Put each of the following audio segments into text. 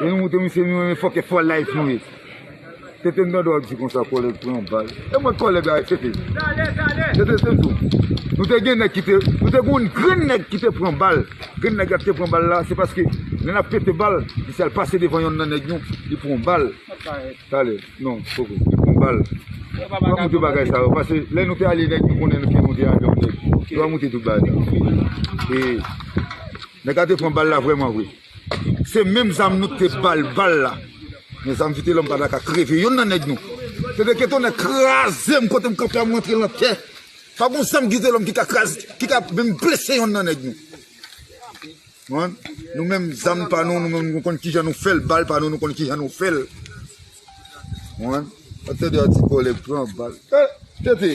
Lè nou moute misye nou renmen fòkè fò life nou ye. Tete m tande w ap di konsa kòlèg pran bal. E mwen kòlèg avèk Tete? Tete se diw nou te gen nèg ki te, nou te gen yon grenn nèg ki te pran bal. Grenn nèg la ki te pran bal la se paske lè n ap pete bal, misye al pase devan yonn nan nèg nou, li pran yon bal. Talè, non poko, li pran yon bal. Nou pa moute bagay sa yo pase lè nou te ale nèg nou konnen ke nou te ale yon nèg. Nou pa moute tout bagay sa yo. E nèg la te pran bal la vrèman vre. Se menm zam nou te bal bal la. Men zam vitelom pa daka kreve yonn nan neg nou. Tede ke tonnè krazem kotem kanpe a m rantre lan tè. Pa gon zam vitelom ki ka kraze ki ka menm blese yonn nan neg nou. Konprann? Nou menm zam pa nou nou menm nou konn kijan nou fel bal pa nou nou konn kijan nou fel. Konprann? Tede a ti koleg pran bal. Tete!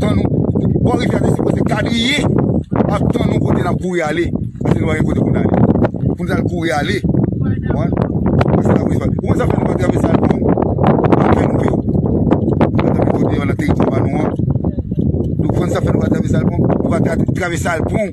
Tan nou, bò rivyè a te sipoze kadriye ak tan nou kote n ap kouri ale. Paske nou pa gen kote pou n ale. Pou nou t al kouri ale. Konprann? Pou sa n ap kouri ale. Ou konn sa k fè nou pa travèse al pran lakay nou vre? Nan dènye kote yo, nan teritwa pa nou an. Nou konn sa k fè nou pa travèse al pran? Nou pa travèse al pran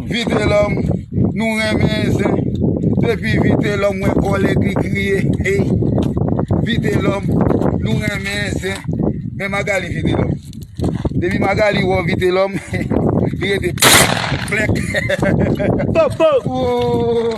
Vitelom nou renmen zen depi vitelom we kole li kriye hey vitelom nou renmen zen men magali vitelom depi magali we vitelom li rete plek ooh.